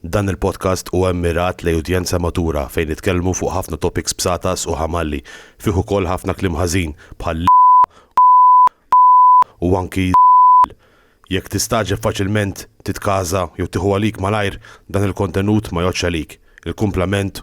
Dan il-podcast huwa mmirat lejn udjenza matura fejn nitkellmu fuq ħafna topics bsatas u ħamalli, fih ukoll ħafna kliem ħażin bħal l, u anki żball. Jekk tistagħġeb faċilment, titkaża jew tieħu għalik malajr, dan il-kontenut ma jgħoddx għalik. Il-kumplament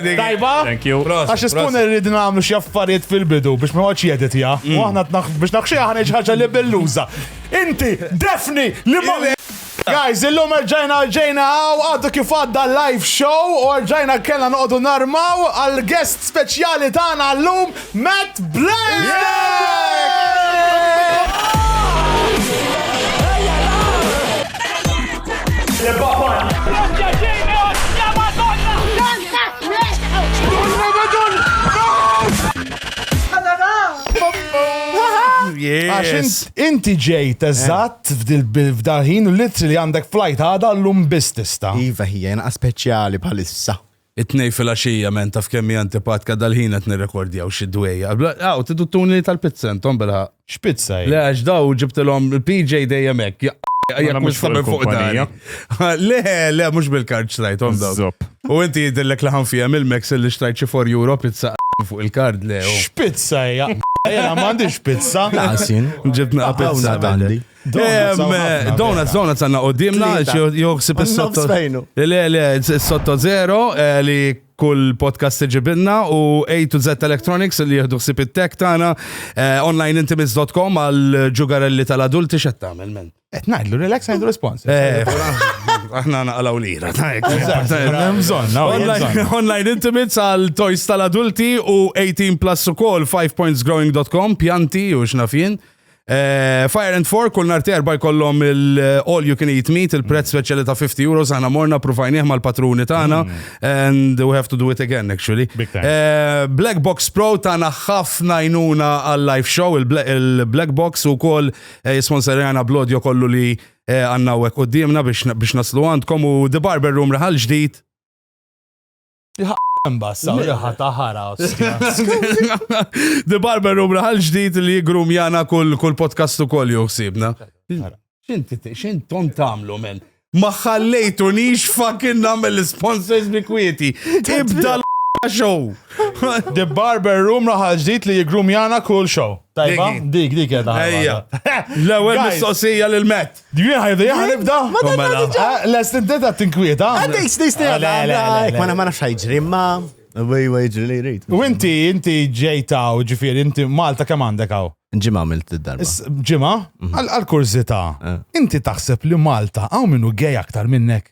Tajba? Thank you. Għax ispun irrid nagħmlu xi affarijiet fil-bidu biex ma għadx jeditja. U mm. aħna biex naħxi aħna ħaġa li belluża. Inti, defni, li ma. Guys, illum erġajna ġejna għaw għaddu kif għadda live show u erġajna kena noqdu narmaw għal guest speċjali tagħna llum Matt Għax Yes. int- inti ġejt eżatt f'dal-ħin u litri li għandek flajt għada l-lum biss tista. Iva hija jena speċjali bħalissa. It-Tnejn filgħaxija, man taf kemm hi antipatka dal-ħin qed nirrekordjaw xi dwejjaq. Aw, tidu tuni tal-pizza intom bilħaqq. X'pizza hi? Le għax daw ġibtilhom il-PJ dejjem hekk. Mela mhux fuq il-kumpanija. Le, le, mhux bil-kard xtrajthom daw. Żopp. U inti jidhirlek li ħanfiha mill-Meks li xtrajt xi for euro pizza fuq il-kard le. X'pizza hi? Jiena m'għandix pizza. Laqas jien. Ġibtna pizza. Hawn għad għandi. Donuts, donuts għanna u dimna, joħsib il-sotto. Le, le, il-sotto zero eh, li kull podcast iġibinna u A to Z Electronics li jihdu xsib il-tech tana eh, onlineintimates.com għal ġugarelli tal-adulti xed tamel men. Et najdlu, relax najdlu respons. Eh, aħna naqalaw lira. Online intimates għal toys tal-adulti u 18 plus u kol 5pointsgrowing.com pjanti u xnafin. Eh, Fire and Four, kull nar terba jkollhom il-all you can eat meat, il-prezz speċjali ta' 50 euros, aħna morna prufajnieh mal-patruni tagħna, mm. and we have to do it again, actually. Eh, Black Box Pro tagħna ħafna jnuna għal-live show, il-Black Box u koll eh, jisponsorjana blodjo kollu li għanna u d-dimna biex naslu għandkom u The Barber Room raħal ġdid Mbassa, jaha taħara. The Barber Room raħal ġdijt li jigrum jana kull podcast u koll juħsibna. Xinti, xintom tamlu men? Ma ħallejtu nix fucking namel sponsors bi kwieti. Ibda l-show. The Barber Room raħal ġdijt li jigrum jana kull show. Tajba, dik, dik edha. Ejja. L-ewel mistoqsija l-met. Dwi ħajdu jaħ nibda? Ma dan mela. diġa. Eh, lest inti ta' tinkwieta. Għaddej snisni għadda. Ma ma nafx ħajġri ma. Wej wej ġri li jrid. U inti, inti ġejta u ġifiri, inti Malta kemm għandek għaw? Ġimma għamilt id-darba. Ġimma? Mhm. Għal-kurzita. Eh. Inti taħseb li Malta għaw minnu gej aktar minnek?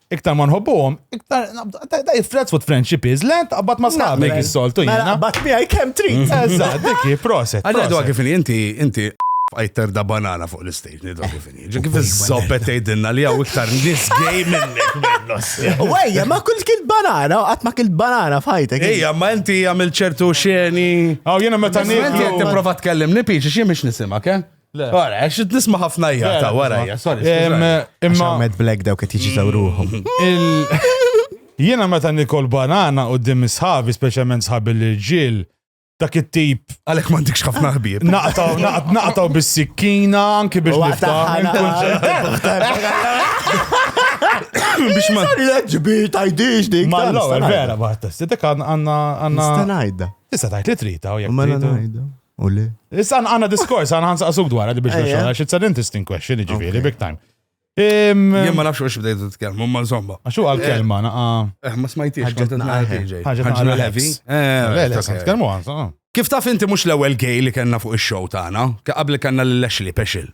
iktar ma nħobbuhom, iktar da jifrezz fuq friendship is le taqbad ma sħabek is-soltu jiena. Taqbad miegħi kemm trid. Mm. Eżatt, dikki, proset. Għalja dwa kif inti inti fajter da banana fuq l-istage nidwa kif inhi. Ġi kif iż-żoppet tgħidilna li hawn iktar nies gej minnek. Wejja, ma kull kil banana, qatt ma kil banana fajtek. Ejja, ma inti għamil ċertu xeni. Aw jiena meta ngħid. Inti qed tipprova tkellimni piċi xi mhix nisimak, eh? Le. Ora, għax qed nisma' ħafna Le, jgħata le, wara nisma'. hija, sorry. Em, skużani. Għax Imma hawn Mad Black dawk qed jiġitaw ruħhom. il- jiena meta nikol banana u dim sħabi, speċjalment sħabi l-irġiel, dak it-tip Għalhekk m'għandikx ħafna ħbieb. naqtaw, naqt- naqtaw bis-sikkina, anki biex niftaħ. minn kull- Biex ma. Ġbir tajdix dik. Ma l-ewwel vera baħtas. Dik għandna għandna Nista' ngħidha. tista' tgħid li trita u jekk Ma trita. ngħidha. U le? Issa għanna diskors, għanna għansa għasuk dwar għaddi biex nxoħna, it's an interesting question, ġifiri, big time. Jien ma nafx xi bdejt titkellmu, ma insomma. Għaxu għal-kelma eh, naqa. Eh, ma smajtix. Ħaġna heavy. Tkellmu għansa. Kif taf inti mhux l-ewwel gay li kellna fuq ix-show tagħna, qabel kellna l-Ashley Pexil.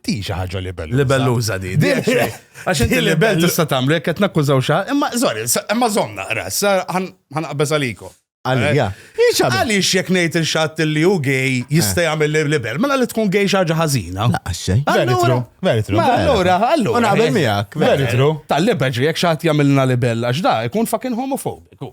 Di xi ħaġa libelluża. Libelluża di. Di Għax inti libell tista' tagħmlu jekk qed nakkużaw xi imma sorry, imma żomm naqra, sa ħanqabeż għalikom. Għalija. Eh, Għaliex jekk ngħid il-xatt li hu gej jista' eh. jagħmel libel, mela li tkun gej xi ħaġa ħażina. Naqqaxxej. Veritru. Veritru. Allura, allura. Una qabel miegħek. Veritru. Tal-libel jekk xatt jagħmilna libel għax da jkun fucking homofobiku.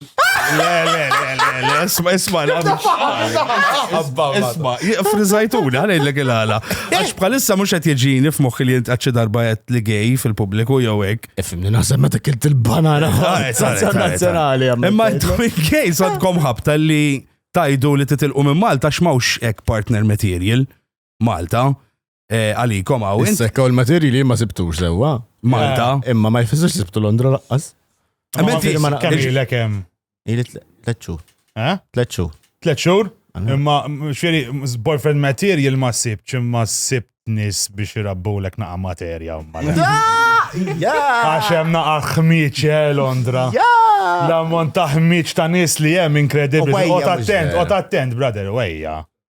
Le, le, le, le, le, isma, isma, isma, frizzajtuni, għana il għala. Għax bħalissa mux għet jġini f'moħħi li jint għadċi darba għet li gej fil-publiku jow ek. Fimni naħseb meta kilt il-banana. Nazzjonali għamma. Imma jtumi gej, sadkom ħabta li tajdu li titilqu minn Malta x'mawx ek partner material. Malta, eh, għalikom għaw. Sekka u l-materji li ma sibtux sewa. Malta. Eh, imma ma jfissux sibtu Londra laqqas. Għamenti, kemm ilek hemm? Ili tlet xhur. Eh? Tlet xhur. Tlet xhur? Imma xiri, boyfriend material ma sib, ma sib nis biex irabbu l naqa materja. Għaxem naqa xmiċ eh, Londra. L-ammont ta' xmiċ ta' nis li jem inkredibli. Ot attent, ot attent, brother, wejja.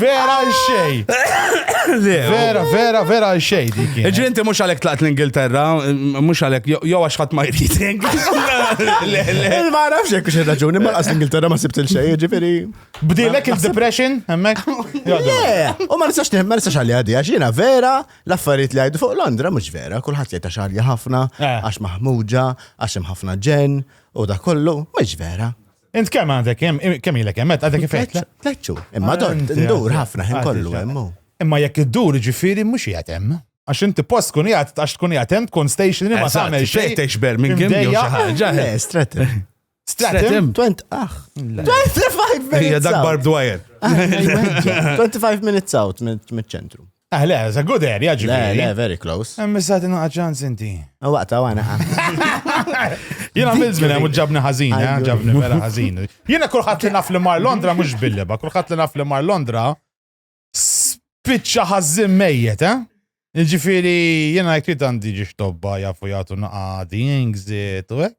Vera għal xej. Vera, vera, vera għal xej dik. Ġri inti mhux għalhekk tlaqt l-Ingilterra, mhux għalhekk jew għax ħadd ma jrid. Ma nafx jekk xi raġuni ma qas l-Ingilterra ma sibt il-xej, ġifieri. Bdilek il-depression hemmhekk? Le, u ma nistax ma nistax għalli għadi għax jiena vera l-affarijiet li għajdu fuq Londra mhux vera, kulħadd jgħid għax ħafna, eh. għax maħmuġa, għax hemm ħafna ġen u da kollu, mhux vera. Int kemm għandek hemm kemm ilek hemm għadek kif qed? Tleċċu. Imma dor ndur ħafna ħin kollu hemm. Imma jekk iddur ġifieri mhux qiegħed hemm. Għax inti post tkun jgħat, għax tkun jgħat hemm tkun station li ma tagħmel xejn. Tgħix Birmingham jew xi ħaġa. Le, Stratton. Stratton? 20 aħ. 25 minutes. Hija dak barb dwajer. 25 minutes out mill-ċentru. Ah, le, it's a good area, ġibi. Le, le, very close. Hemm issa tina ċans inti. Waqta għana. Jena minn zmin hemm ġabni ħażin, eh, ġabni vera ħażin. Jena kulħadd li naf li mar Londra mhux billeba, kulħadd li naf li mar Londra spiċċa ħażin mejjet, eh? Ġifieri jiena jekk trid għandi ġiex tobba jafu jagħtu naqadi, ingżiet u hekk.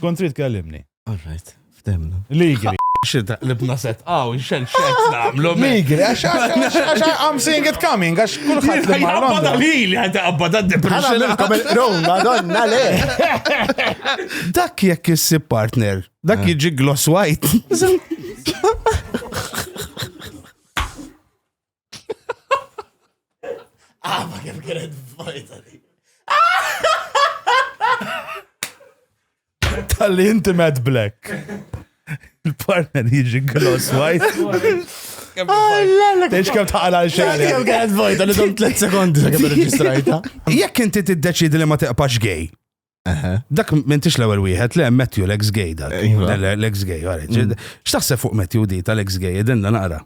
Kont trid kellimni. All right, ftemna. Ligri. Xidda, libna set, għaw, xen xek namlu. Migri, għax għax għax I'm seeing it coming, għax kullħat li marra. Għabba li li għadda għabba da depression. Rom, madonna le. Dak jekk jissib partner, dak eh. jiġi gloss white. Ah, ma kif kienet fajta li. Tal-li inti Matt Black. Il-partner jiġi gloss white. Tex kem taqala xali. Kem kienet vojta li dom 3 sekondi sa kem reġistrajta. Jekk inti tiddeċidi li ma tiqpax gay. Dak m'intix l-ewwel wieħed le Matthew l-ex gay dak. Iva. L-ex gay, għarri. Mm. X'taħseb fuq Matthew di tal-ex gay, idenna naqra.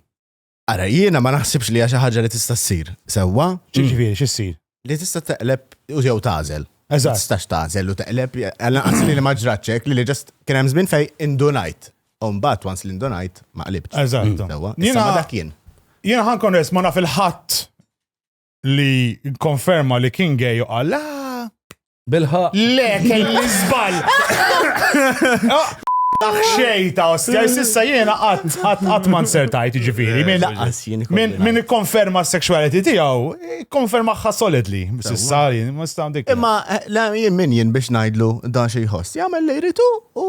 Ara, jiena ma naħsibx li hija xi ħaġa li tista' ssir. Sewwa? Ġifieri xi ssir? Li tista' teqleb u jew tażel. Eżatt. Tistax tażel u teqleb, għal anqas li ma ġratxek li li ġast kien hemm żmien fejn indunajt. U mbagħad once li ndunajt ma qlibtx. Eżatt. Sewwa? Jiena dak jien. Jiena ħankun rest ma naf il-ħadd li konferma li kien gay u qal ah, Bilħa. le kelli żball. Dak xejta, ostja, sissa jiena qatt qatt qatt ma nsertajt ġifieri. Min Laqqas jien ikolli min- min ngħid. ikkonferma s-sexuality tiegħu, ikkonfermaħħa solidly. Sissa jien ma sta dik. Imma eh, la, jien min jien biex ngħidlu dan xi jħoss. Jagħmel li jritu u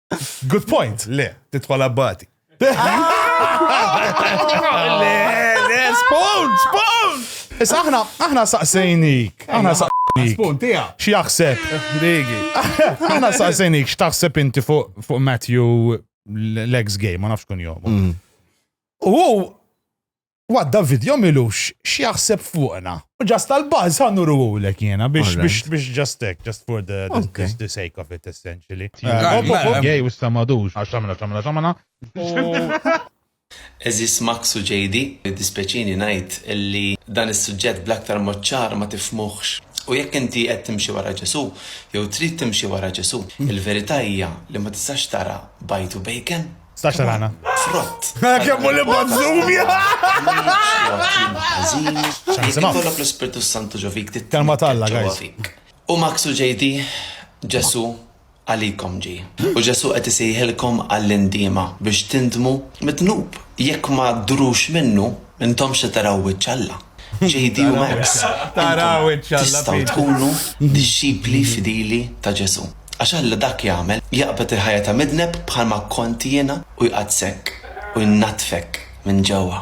Good point. Le, titħol abbati. Le, le, spawn, spawn! Issa aħna, aħna saqsejnik. Aħna saqsejnik. Spawn, tija. X'jaħseb? Digi. Aħna saqsejnik x'taħseb inti fuq fuq Matthew l-ex game, ma nafx kun jom. Mm. U What David jomilux x'jaħseb fuqna. U ġast tal-buzz ħan nurulek jiena biex biex biex ġast hekk, ġast for the, the sake of it essentially. Gej u s-samadux għax xamna xamna xamna. Eżis Max u JD, dispeċini ngħid li dan is-suġġett bl-aktar mod ċar ma tifhmuhx. U jekk inti qed timxi wara Ġesù, jew trid timxi wara Ġesù, il-verità hija li ma tistax tara bajd u bacon. Stax rana. Frott. Kemm li bazzumi. Kollok l-Ispirtu Santu ġovik. Kalma talla, guys. U Maxu ġejdi, Ġesu, għalikom ġi. U Ġesu qed isejħilkom għall-indima biex tindmu mitnub. Jekk ma drux minnu, Intom se taraw wiċċ Alla. JD u Max, intom tistgħu tkunu dixxipli fidili ta' Ġesù. Għax Alla dak jagħmel, jaqbad il-ħajja ta' midneb bħalma kont jiena u jqaddssek u jnaddfek minn ġewwa.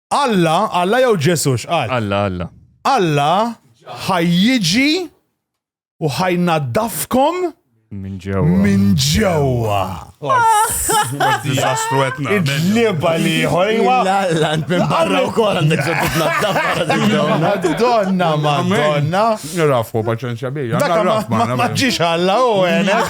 Alla, Alla jew Ġesu x'qal? Alla, Alla. Alla ħajjiġi u ħajnaddafkom minn ġewwa. Minn ġewwa. Diżastru qed nagħmel. Id-liba li ħolwa. L-allant minn barra wkoll għandek ġoddu tnaddaf barra Madonna, Madonna. Rafu paċenzja bija. Dak ma ġiex Alla u għenek.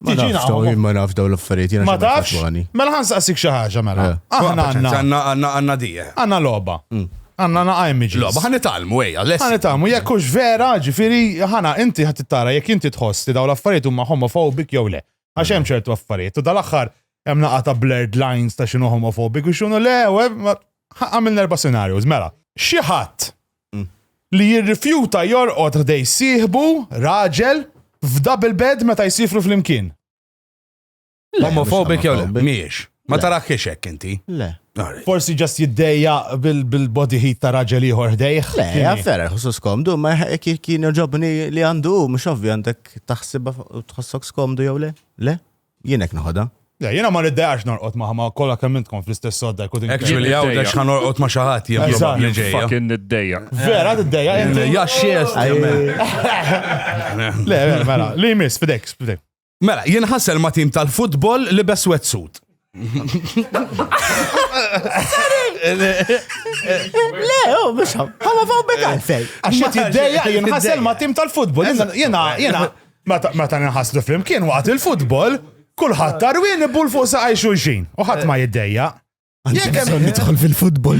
Ma Tiġi nafx daw, naqgħu. ma nafx daw l-affarijiet, jena Ma xemma tafx? fatwani. Mela ħan saqsik xi ħaġa mela. Eh. Aħna għandna Għanna għanna għanna dije. għandna logħba. Għandna naqa' images. Mm. Loba, ħan italmu, ej, għaless. Għana tamu, jekk hux vera, ġifiri, ħana, inti ħat tara, jekk inti tħoss li daw l-affarijiet huma homofobik jew le. Għax hemm ċertu affarijiet, u dal-aħħar hemm naqa ta' blurred lines ta' xinu homofobik u xinu le, u hemm- ma- ħa- għamilna erba' scenarios, mela. Xi ħadd li jirrifjuta jorqod ħdej sieħbu, raġel, f'double bed meta jsifru flimkien. Homophobic jew le? Mhijiex. Ma taraħkiex hekk inti. Le. Forsi ġast jiddejja bil-body heat ta' raġel ieħor ħdejh. Le, għaffera, ħusus komdu, ma kien ġobni li għandu, mux ovvi għandek taħsibha tħossok skomdu jew le? Le? Jien hekk noħodha. Le, jiena ma niddejaqx norqod ma' ħama kollha kemm intkom fl-istess sodda jkun Hekk ġieli hawn għax ħa norqod ma' xi ħadd jien Eżatt. probabbli ġejja. Fucking niddeja. Vera tiddejja inti? Ja xiest jemmen. Le, le, mela, li jmiss fidejk, fidejk. Mela, jien ħassel ma' tim tal-futbol li bes wetsuit. Le, oh, mhux ħama faw bekal fej. Għax jien tiddejja jien ħassel ma' tim tal-futbol. Jiena, jiena, jiena, Meta nħaslu flimkien waqt il-futbol, kulħadd tarwien ibul fuq saqaj xulxin u ħadd ma jiddejja. Jekk hemm nidħol fil-futbol.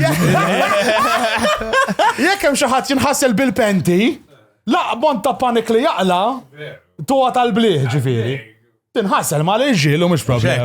Jekk hemm xi ħadd jinħassel bil-penti, laqbon ta' panik li jaqla tuwa tal-bliħ ġifieri. Tinħassel ma' l-irġiel u mhux problema.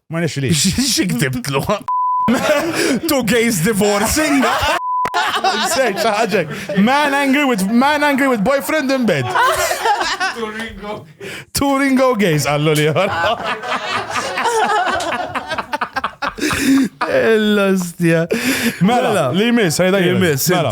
Ma nixli. Xi ktibtlu? Two gays divorcing? Search ħaġek. Man angry with man angry with boyfriend in bed. Two ringo gays għallu li L-ostja. Mela, li jmiss, ħajda jmiss, mela.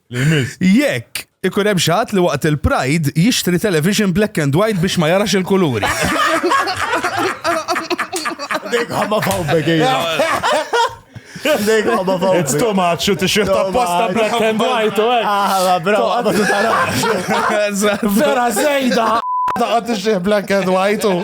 li jmiss. Jekk ikun hemm xi ħadd li waqt il-Pride jixtri television black and white biex ma jarax il-kuluri. Dejk ħamma fawbek, ejja. Dejk ħamma fawbek. It's too much, u t-shirt apposta black and white, u għek. Ah, bro, għabba tu tarax. Vera zejda. Taqqa t-shirt black and white, u.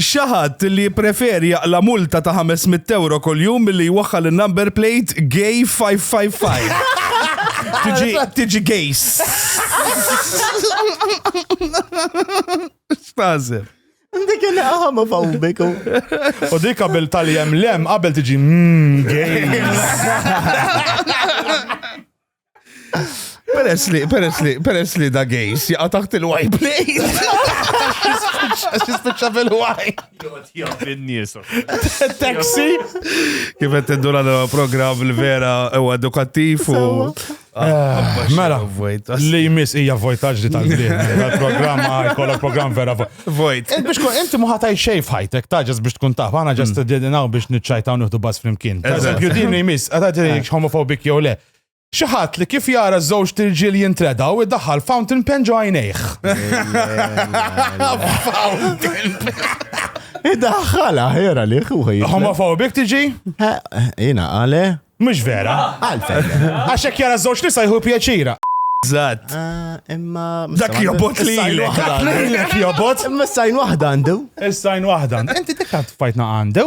Xi ħadd li jippreferi jaqla' multa ta' ħames mitt ewro kuljum milli jwaħħal in-number plate Gay 555. Tiġi Gays. X'tażel? Dik il-ħama fawbik. U dik qabel tal-jem lem, qabel tiġi mmm, games. Peress li, peress li, peress li da gejs jaqa taħt il-white plate. Għax jispiċċa fil-white. Taxi. Kif qed tiddu l programm li vera huwa edukattiv u. Ah, mela, li jmiss hija vojtaġ li tal-blim. Il-programm għajkolla programm vera vojt. Eh, biex kun inti muħataj xej f'ħajtek, taġas biex tkun taf, għana ġast mm. d-dinaw biex nitċajtaw nħdu bas flimkien. Eżempju, din li jmiss, għadati eh. homofobik jew le. Xi ħadd li kif jara żewġt irġiel jintredaw idaħħal fountain pen ġo għajnejh. Idaħħal aħjar għalih u ħajja. Homofobik tiġi? Jina għale. Mhux vera. Għalfejn. Għax hekk jara żewġ nisa jħu pjaċira. Zat. Ah, imma. Dak jobot li jilek. Lilek jobot. Imma s-sajn wahda għandu. Is-sajn wahda. Inti dik għad fajtna għandu?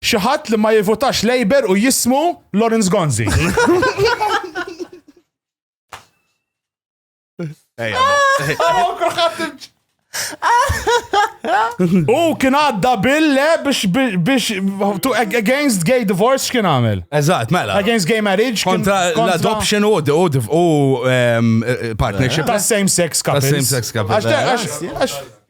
Xi ħadd li ma jivutax Labour u jismu Lawrence Gonzi. U kien għadda bille biex biex to against gay divorce kien għamil. Eżatt, mela. Against gay marriage. Kontra l-adoption u u partnership. Ta' same sex couple. Ta' same sex couple.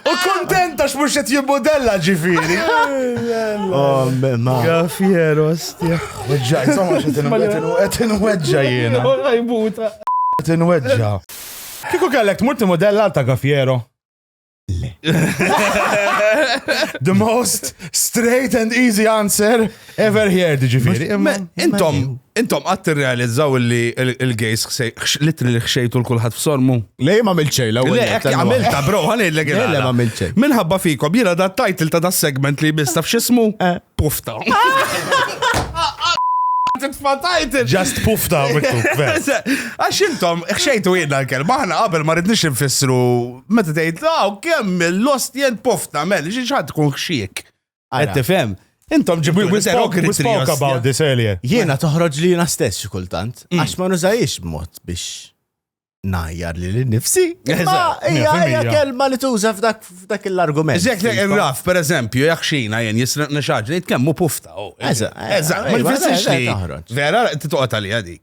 U kontenta x'mhux qed jimmodella ġifieri. Oh, ma. Gafier, ostja. Weġġa, insomma, qed inweġġa jiena. Għajbuta. Qed inweġġa. Kieku kellek tmur timodella ta' Gafiero. Le. The most straight and easy answer. Ever heard ġifiri. Intom, intom għat realizzaw li il-gays litri li xejtu l-kulħat f-sormu. Lej ma milċej, la Le, ekki għamilta, bro, għalli l-legi. Le, ma milċej. Minħabba fikom, jina da title ta' da segment li bista f'xismu, eh. pufta. Titfatajt! Just pufta, Għax intom, xejtu jidna l-kelma, ħana qabel ma rridnix nfissru, meta tgħid, ah, kemm l-lost jien pufta, mel, xi tkun xxiek. Qed tifhem? Intom ġibu we spoke, we spoke about this earlier. Jiena toħroġ li jiena stess xi kultant, mm. għax ma nużajiex mod biex najjar li l-nifsi. Ija kelma li tuża f'dak l-argument. Zek li raf, per eżempju, jek xina jen jisraq nixaġ li jitkemmu pufta. Oh, Eżat, ma jfessiex li. Vera, t-toqta li għadik.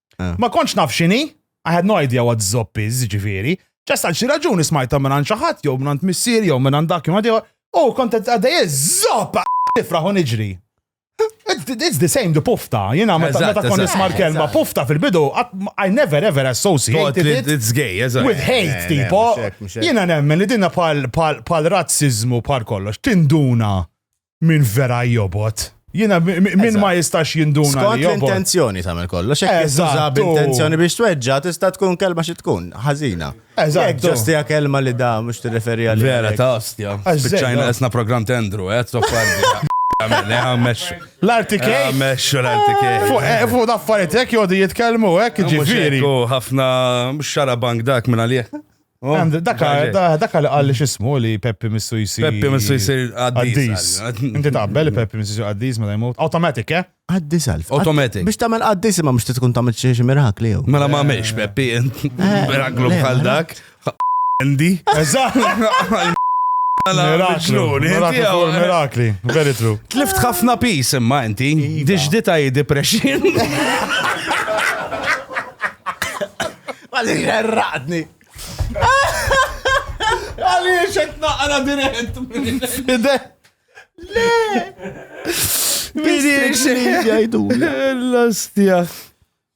Ah. Ma kontx naf xini, I had no idea what zopp is, ġifiri. Ġast għal xi raġuni smajta minn għand xi ħadd jew minn għand missier jew minn għand dak jew għaddew. U kont qed għaddej zopp nifraħ u niġri. It's the- it's the same the pufta, jiena meta Eżatt, meta kont eżatt. nisma' l-kelma Eżatt. pufta fil-bidu, qatt ma- I never ever Thought associated li it it's gay, eżatt. with hate, Eh, le, tipo, mhux hekk, mhux hekk. jiena nemmen li dinna pal, pal, pal razzizmu pal kollox, tinduna min vera jobot. Jina, min ma jistax jinduna. Skont l-intenzjoni tagħmel kollu, xek jistaxa b'intenzjoni biex tweġġa, tista' tkun kelma xi tkun, ħażina. Eżatt. Ġostija kelma li da mhux tirreferi għal. Vera ta' ostja. Spiċċajna esna programm tendru, eh, toffardi. L-artikej. Meċu l-artikej. Fuq daffaritek jodi jitkelmu, ek ġifiri. ħafna xara bank dak minna liħ. Oh, Għand- Daka ġaġe. da- daka li qalli xismu li Peppi missu jisir. Peppi missu jisir Għaddis. għaddis. Inti taqbel li Peppi missu jisir għaddis meta jmut. Automatic, eh? Għaddis għalf. Automatic. Biex tagħmel għaddis imma mhux tkun tagħmel xi xi mirakli jew. Mela ma mex Peppi, miraklu le, bħal mela. dak. Andy. Eżatt. Mela Miraklu. mġnun, inti Miraklu għaw- fuq mirakli. Very true. Tlift ħafna pis imma inti. Diġdita hi depression. Għalli xerraqni. Għalli xek naqra dirett. Fide. Le. Mini xek jajdu. L-astja.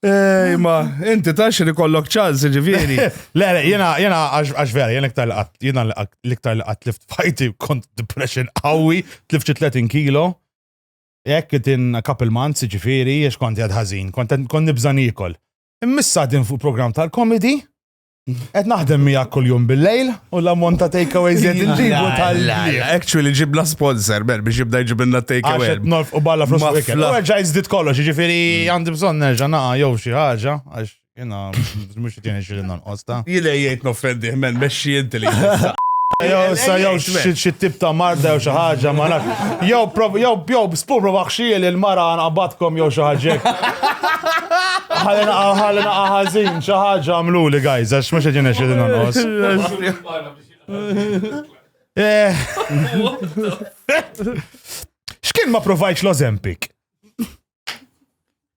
Ej, ma, inti tax li kollok ċans, ġiviri. Le, le, jena, jena, għax vera, jena iktar laqat, jena iktar laqat lift fajti kont depression għawi, tlift 30 kilo. Jekk in a couple months, ġifiri, jiex kont jadħazin, kont nibżan ikol. Immissa din fuq program tal-komedi, qed naħdem miegħek kuljum bil-lejl u l-ammont ta' takeaway zed inġibu tal Actually ġibna sponsor, ben, biex jibda jġibna takeaway. Għaxet norf u balla flus u ikel. Għagġa jizdit kollox, ġifiri għandi bżon nerġa naqa jow xi ħaġa, għax jena mux jtini xilin Osta. Jilej jgħid noffendih men mexxi inti li. Jew sa jew xi tip ta' marda jew xi ħaġa ma naf. Jew jew jew spu prova ħxiel il-mara nqabadkom jew xi ħaġa. Ħalina ħalina ħażin xi ħaġa għamlu li guys għax mhux qed jinnex qegħdin nonqos. Eh. X'kien ma provajx l-Ozempik?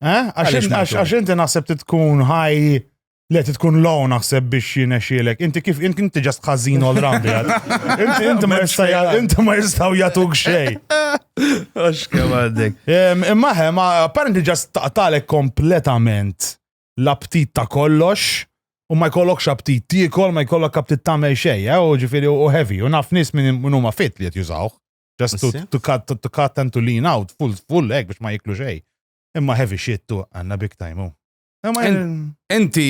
Eh? Għax inti naħseb titkun ħaj Le, tkun law naħseb biex jinexielek. Inti kif, inti inti ġast ħazin all round. Inti inti ma jistaw, inti ma jistaw jatuk xej. Għax kem għaddek. Imma ħem, apparently ġast taqtalek kompletament l-aptit ta' kollox u ma jkollokx aptit tiekol, ma jkollok aptit ta' xej, eh? u ġifiri u heavy, u naf nis minn huma fit li jett jużawh. Just to, to, cut, to, to cut and to lean out, full, full egg biex ma jiklu xej. Imma heavy shit tu għanna big time u. Enti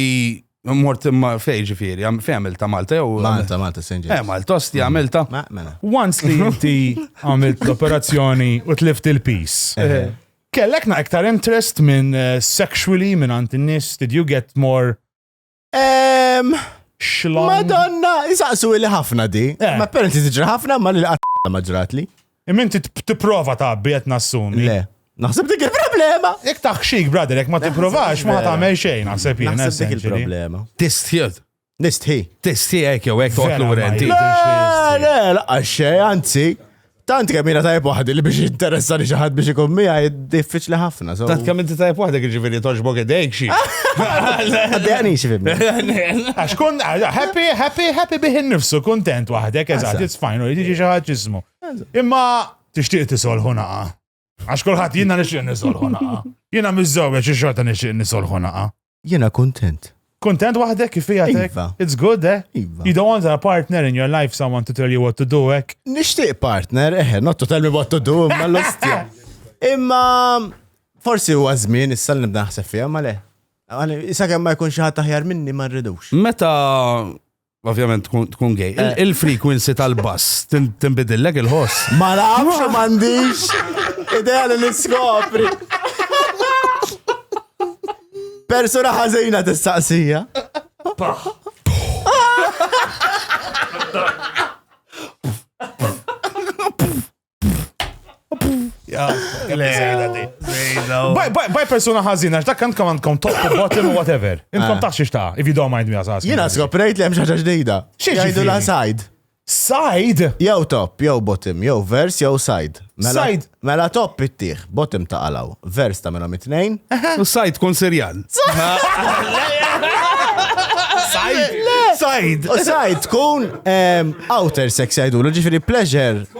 mort imma fej ġifiri, fej għamil ta' Malta jew. Malta, Malta, Sinġi. Eh, Malta, osti għamil ta'. Mela. Once li inti għamil l-operazzjoni u tlift il-pis. Eh. Eh. Kellek na iktar interest minn eh, sexually minn għant n-nis, did you get more Xlan. Madonna, jisaqsu li ħafna di. Eh. Ma parenti tiġri ħafna ma li qatt ma ġrat li. Immin tipprova tabbi qed nassumi. Le. Naħseb dik il-problema. Jek taħxik, brother, jek ma tipprovax, ma tagħmel xejn, naħseb jien. Naħseb dik il-problema. Tistħid. Nistħi. Tistħi hekk jew hekk toqgħod lura inti. Le, le, laqgħa xejn, anzi. Tant kemm jiena tajb waħdi li biex interessani xi ħadd biex ikun miegħi diffiċli ħafna. so- Tant kemm inti tajb waħdek ġifieri toġbok idejk xi. Għaddejani xi fimni. Għax kun, għax- happy, happy, happy bih innifsu, kontent waħdek, eżatt, Eżatt. it's fine, u jiġi xi ħadd jismu. Imma tixtieq tisolħu naqa. Għax kulħadd jiena nixtieq nisolħu naqa. Jiena miżżewja xi xorta nixtieq nisolħu naqa. Jiena kuntent. Kuntent waħdek kif hija iva. It's good, eh? Iva. You don't want a partner in your life, someone to tell you what to do, ek? Eh? Nixtieq partner, eh, not to tell me what to do, imma l-ostja. Imma forsi huwa żmien issa li nibda naħseb fiha ma le. Issa kemm ma jkun xi ħadd aħjar minni ma rridux. Meta Ovvjament tkun gay. Eh. Il-frequency tal-bass tinbidillek il-ħoss. Ma nafx u m'għandix idea li niskopri. Persuna ħażina tistaqsija. Baj persona ħazina, x'dak kant kam għandkom top u bottom u whatever. Inkom ah. taħxiex ta' if you don't mind me għasas. Jena skoprejt li hemm xaġa ġdida. Xieġidu la side. Side? Jew top, jew bottom, jew vers, jew side. Mela- side. Mela top ittieħ, bottom ta' għalaw, vers ta' minnhom it-tnejn. U side kun serjal. Side. Side. Side tkun outer sex jgħidu, ġifiri pleasure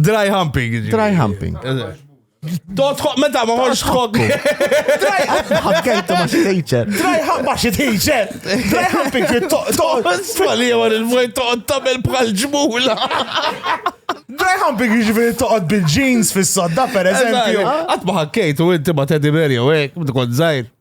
Dry humping. ġifieri. Dry humping. Eżatt. Totħok, meta ma ħorx tħok. Dry humping. Ħabkejtu ma xi teacher. Dry humping ma xi teacher. Dry humping kien toqgħod. Isfali għal il-mojt toqgħod tabel bħal ġmula. Dry humping jiġifieri toqgħod bil-jeans fis-sodda pereżempju. Għat ma ħakkejtu inti ma teddy bear jew hekk, kont żgħir.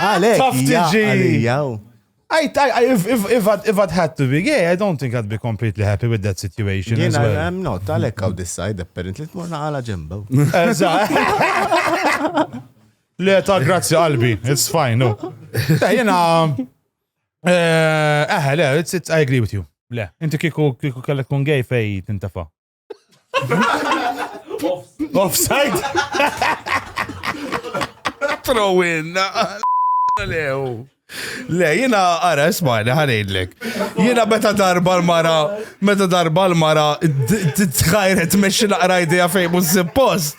Għalek, jaqalijaw. I, I, if, if, if, I'd, if I'd had to be gay, I don't think I'd be completely happy with that situation Jena, as well. I'm not, għalek għaw decide apparently t-morna għala ġemba. Le ta' grazzi qalbi, it's fine, no. Ta' jena, eh, eh, le, it's, it's, I agree with you. Le, inti kiku, kiku kellek kun gay fej tintafa. Offside. Throw in. Lew. Le, jina għara, ismajni, ħanidlek. Jina meta darba l-mara, meta darba l-mara, t-tħajret meċi naqra idea fejn mux post.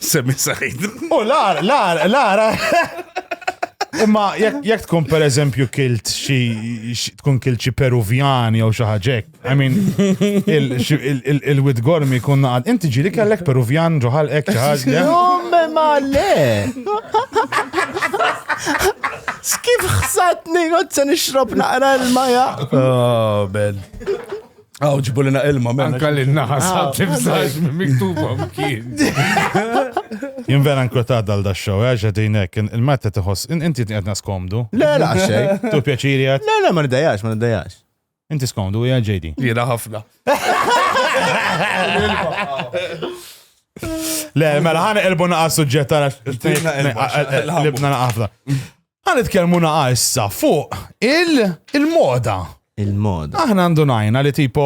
Semmi sajt. U lar, lar, lar. Imma jekk tkun per eżempju kilt xi tkun kilt xi Peruvjan jew xi ħaġek. I mean il-wid gormi kun naqad. Inti ġili kellek Peruvjan ġoħal hekk xi ħaġa. Jomme ma le. Skif ħsatni għod se nixrob naqra l-maja. Oh, ben. Għaw ġbulina ilma menna. Anka li naħa saħt imsaġ minn miktuba mkien. Jien vera nkwetat dal da xow, eh, għax għedinek, il-matta tħoss, inti għedna skomdu. Le, la, xej. Tu pjaċiri għed? Le, le, ma nidajax, ma nidajax. Inti skomdu, għja ġejdi. Jena ħafna. Le, mela ħana elbu naqa suġġetta għax. Libna naqa ħafna. Għan itkellmu naqa issa fuq il-moda. Il-moda. Aħna għandu najna li tipo,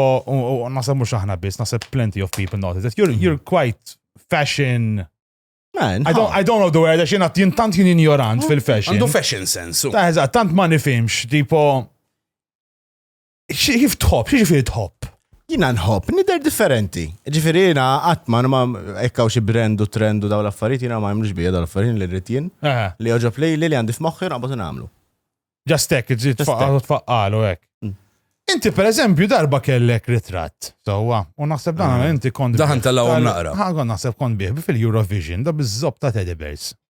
nasab mux aħna bis, nasab plenty of people notice that you're, you're quite fashion. Man, I don't, I don't know the word, għax jena jintant jien ignorant fil-fashion. Għandu fashion sense. Ta' eżat, tant ma nifimx, tipo, Kif tħobb, xi ġifieri tħobb? Jina nħobb, nider differenti. Ġifieri jiena qatt ma ma ekkaw xi brand u trend u daw l-affarijiet jiena ma jmlux bija daw l-affarijiet li rrid jien. Li joġob li li għandi f'moħħi naqbad nagħmlu. Just hekk, iżid tfaqqalu hekk. Mm. Inti per eżempju darba kellek ritratt, sewwa, u naħseb dan ah. inti kont. Daħan tal-għom naqra. Ħagon naħseb kont bih fil-Eurovision, da bizzop ta' Teddy Bears.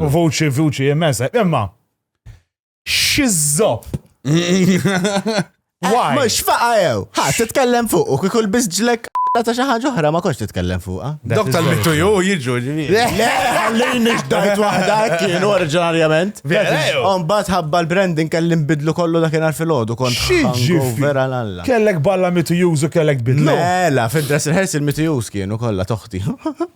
U vuċi, vuċi, immesa. Imma, xizzop. Why? Mux faqa jew. Ha, titkellem fuq u kikul bizġlek ta' xi ħaġa oħra ma kontx titkellem fuqha. Dok tal-mittu ju jiġu ġivi. Le, ħallini x'dajt waħda kienu oriġinarjament. Mbagħad ħabba l-branding kelli nbidlu kollu dakinhar fil-għodu kont hangover għal alla. Kellek balla mitu jużu kellek bidlu. Mela, fid-dress rehearsal mitu już kienu kollha toħti.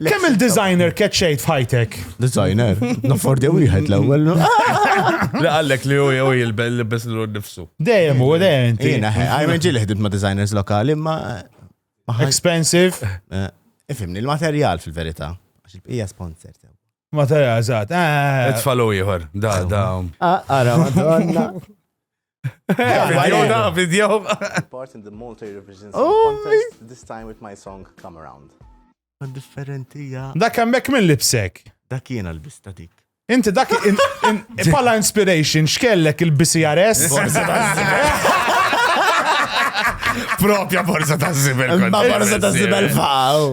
Kemm il-designer keċċejt f'ħajtek? Designer, naffordja wieħed l-ewwel. Li għallek li huwa jew jilbel li biss l nifsu. Dejjem u dejjem. Jiena ħajma ġieli ħdimt ma' designers lokali ma. Expensive. Eh, ifimni l-materjal fil-verità. Għax il-bqija sponsor. Materjal, eżatt. Eh. Itfalu ieħor. Da, da. Ah, ara, madonna. Video da, video. Part in the Malta Eurovision Song oh, Contest, this time with my song Come Around. Differenti, ja. Dak hemmhekk minn lipsek. Dak jiena l-bista dik. Inti dak pala inspiration x'kellek il-BCRS? Propja borza ta' zibel. Ma borza ta' zibel faw.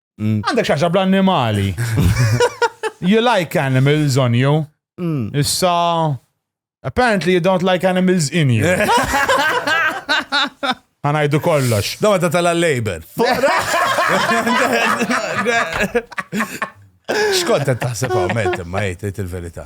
Mm. Għandek xaġa bl-annimali. You like animals on you. Mm. Issa, apparently you don't like animals in you. Għanajdu kollox. Dawa ta' tal-labor. Xkont taħseb għamet, ma jgħid il-verita.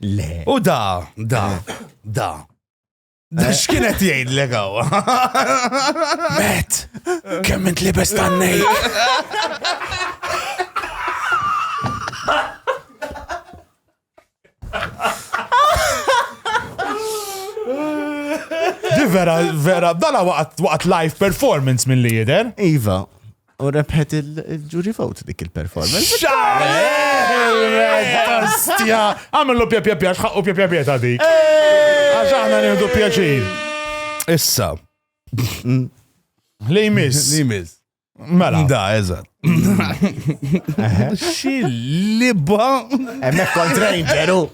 Le. U da, da, da. Da eh. x'kienet jgħid l għawa? Bet, kemm int li bestannej. Di vera, vera, dala waqt live performance mill-lider. Iva. U rebħet il-jury vote dik il-performance. Xastja! Għamillu pja pja pja, xħaqqu pja pja pja ta' dik. Għax aħna nieħdu pjaċir. Issa. Li jmiss. Li jmiss. Mela. Da, eżat. Xillibba. Emmek kont ranger, u.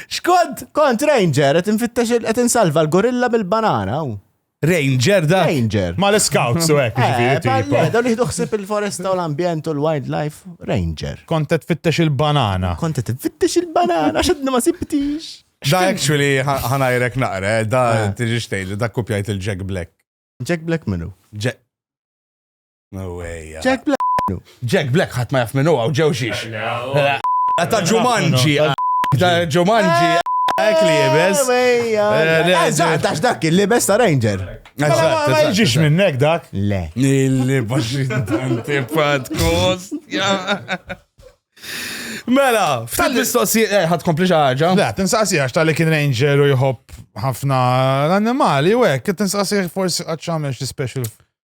Xkont? Kont ranger, għet nfittex, għet nsalva l-gorilla bil-banana, u. Ranger da. Ranger. Ma l-scouts u hekk ġifieri eh, tipo. Eh, dawn jieħdu ħsieb il-foresta u l-ambjent u l-wildlife. Ranger. Kont qed tfittex il-banana. Kont qed tfittex il-banana għax qed ma sibtix. Da actually ħanajrek naqra, eh, da eh. tiġi xtejli, da kopjajt il-Jack Black. Jack Black minu? Jack. No way. Jack Black. Jack Black ħadd ma jaf minn huwa u ġew xiex. Ta' Ġumanġi. Ta' Ġumanġi. Ek li jibes. Eżatt, għax dak il-libes ta' Ranger. Ma jġiex minnek dak. Le. Li baxin tanti fat kost. Mela, f'tal mistoqsijiet, eh, ħad kompli ħaġa. Le, tinsaqsi għax tal-li kien ranger u jħobb ħafna l-annimali, u għek, tinsaqsi forsi għadċamel xie special.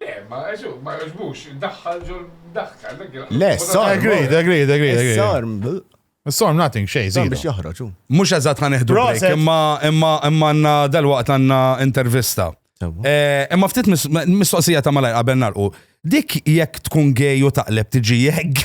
Le, ma għaxu, ma għaxbux, daħħal ġol daħka, Le, sorm. Agreed, agreed, agreed, agreed. Sorm. Sorm, nothing, xej, zi. Biex joħroġ, u. Mux eżat ħan iħdu break, imma, imma, imma għanna dal-waqt għanna intervista. Eh, imma ftit mistoqsija ta' malaj qabel narqu. Dik jekk tkun gej u taqleb tiġi jegg.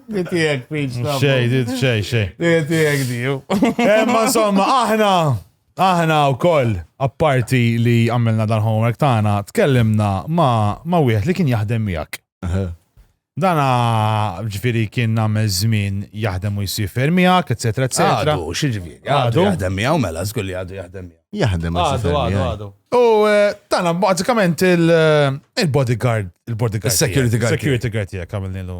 Ditijek, piġ, ta' Xej, dit xej, xej. Ditijek, diju. Emma insomma, aħna, aħna u koll, apparti li għamilna dan homework tagħna, tkellimna ma, ma wieħed li kien jaħdem miegħek. Dana ġifiri kien nagħmel żmien jaħdem u jsifer miegħek, eċetera, eċetera. Għadu, xieġifieri. Għadu Għadu. jaħdem miegħu mela, żgur li għadu jaħdem miegħu. Jaħdem ma' Għadu, għadu, sifer għadu. U eh, tana bazzikament il-bodyguard, il-bodyguard. Is-security tiegħek, guard Security guard tiegħek għamilni l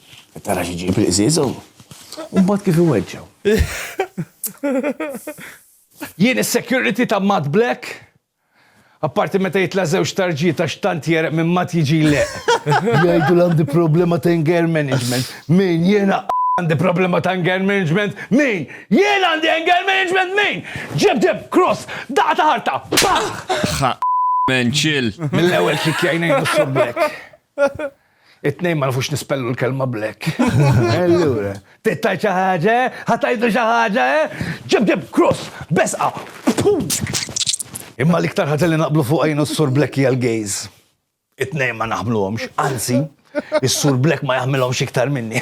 Qed tara xi ġib il-qżieża u mbagħad kif iweġġgħu. Jien is-security ta' Matt Black, apparti meta jitla' żewġ tarġiet għax tant jegħreq minn Matt jiġi jleqq. Jgħidu li għandi problema ta' anger management. Min? Jien għandi problema ta' anger management? Min? Jien għandi anger management? Min? Ġieb deheb, cross, daqqa ta' ħarta, paħ! Ħa menċil. Mill-ewwel kick jgħin ngħinu s-Sur Black. It-tnejn ma nafux nispellu l-kelma black. Allura, tittajt xi ħaġa, ħatajdu xi ħaġa, ġib ġib cross, besqa. Imma l-iktar ħaġa li naqblu fuq għajnu s-sur black hija l-gays. It-tnejn ma naħmluhomx, anzi, is-sur black ma jaħmilhomx iktar minni.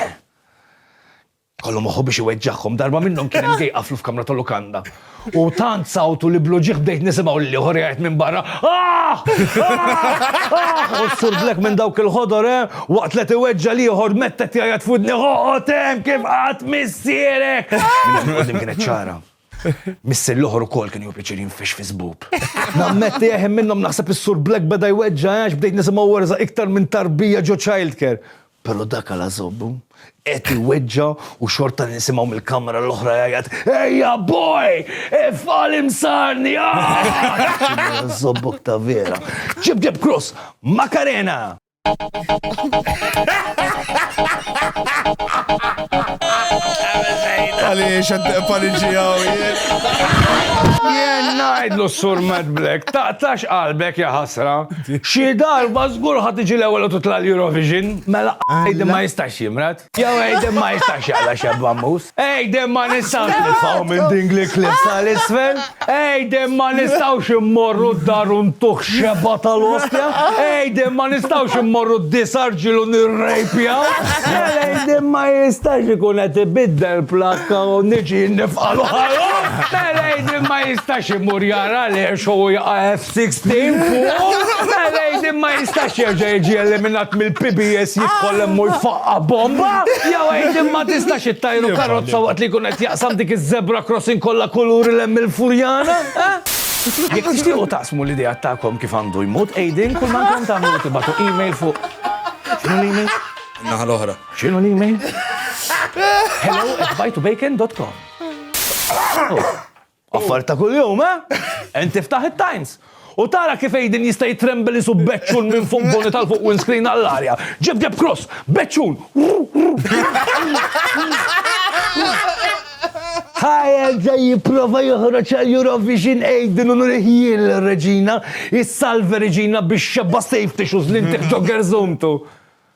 Kollu moħħu biex iweġġagħhom. Darba minnhom kien hemm ġej qaflu f'kamra ta' lukanda. U tant sawtu li blu ġieħ bdejt nisimgħu lil ieħor jgħid minn barra, Ah! Ah! Ah! U s-Sur Black minn dawk il-ħodor, eh, waqt li qed iweġġa' l-ieħor mett qed jgħajjat f'widni, Oqgħod hemm kif qatt missierek! Minn hawn 'il quddiem kienet ċara. Missier l-oħor ukoll kien jieħu pjaċir jinfix fi żbub. Nammetti, eh, hemm minnhom naħseb is-Sur Black beda jweġġa' għax bdejt nisimgħu werża' iktar minn tarbija ġo childcare. Però dak għala żobbu? Qed iweġġa' u xorta nisimgħu mill-kamra l-oħra jgħajjat, Ejja boj! Ifqal imsarni! Żobbok ta' vera. Ġib ġib krus! Makarena! Għaliex għed paniġijaw jien. Jien najdlu s-sur Mad Black, taqtax qalbek ja ħasra. Xi darba żgur ħa tiġi l-ewwel u titla' l-Eurovision. Mela Aiden ma jistax jimrad. Jew Aiden ma jistax jaqla' xebba ammuż. Aiden ma nistgħux nitfgħu minn din l-eclipse għal isfel. Aiden ma nistgħux immorru d-dar u ntuh xebgħa tal-ostja. Aiden ma nistgħux immorru d-disa' rġiel u nirrejpjaw. Mela Aiden ma jistax ikun qed ibiddel plakka u niġi nifqagħlu ħalqu. Mela Aiden ma jistax imur jara l-għerxa u jaqa' 16 fuq, Lady ma jistax jerġa' jiġi eliminat mill-PBS jidħol hemm u jfaqqa bomba, jew Lady ma tistax ittajru karozza waqt li jkun qed jaqsam dik iż-zebra crossing kollha kuluri l hemm il-Furjana, eh? Jekk tixtiequ taqsmu l-ideat tagħkom kif għandu jmut Aiden, kull ma għandkom tagħmlu tibgħatu email fuq. X'inhu l-email? Naħa l-oħra. X'inhu l-email? Hello at bajtubacon.com. Affar ta' kuljum, eh? Ent tiftaħ it-Times. U tara kif Aiden jista' jitrembel isu beċċun minn fuq boni tal-fuq windscreen għall-arja. Ġib Deb Cross, beċċun! Ħajel ġej jipprova joħroġ għal Eurovision Aiden u nurih jien l-Reġina, jissalva Reġina biex xebba safety shoes li ntieħ ġo gerżumtu.